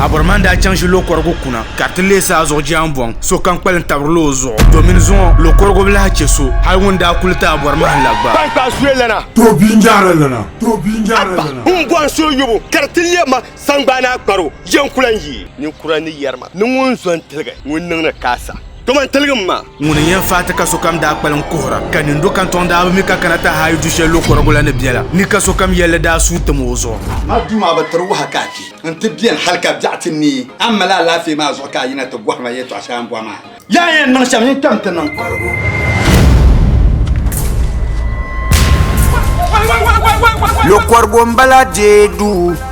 Abɔrman daa chaŋ ʒi lokɔrigu kuna ka ti leei saa zuɣu jɛambɔŋ sokam kpalim tabirila o zuɣu domin zuŋɔ lokɔrigu bi lahi chɛ so hal ŋun daa kuli ti Abɔrman la gba. Tankpaɣu zuya lana. Tooi bia n-jahiri lana. Tooi bia n-jahiri lana. Abba! Ŋun bɔhim so yobu ka di ti lɛbi ma saŋgbaan a kparo, yɛn ku lan yi? Ninkura ni yɛri ma ni ŋun zo n-tiligi ŋun niŋ ni ka a sa. Dama n tiligi ma. Ŋuni n-yɛn faai ti ka sokam daa kpalim kuhira, ka nindo kantɔŋ daa bi mi ka kana ti haayu du shɛli lo kɔrigu la ni biɛla, ni ka sokam yɛlli daa suui tim o zuɣu. Amaa duu maa bi tiri waha ka a kpi nti beni hal ka biɛɣu ti neei. A ni mali alaafee maa zuɣu ka a yina ti bɔhi ma yɛtɔɣ shɛli a ni bɔhi maa? Yaa yɛn niŋ shɛm yin kpɛm ti niŋ kɔrigu. Lo kɔrigu m-bala deei duu.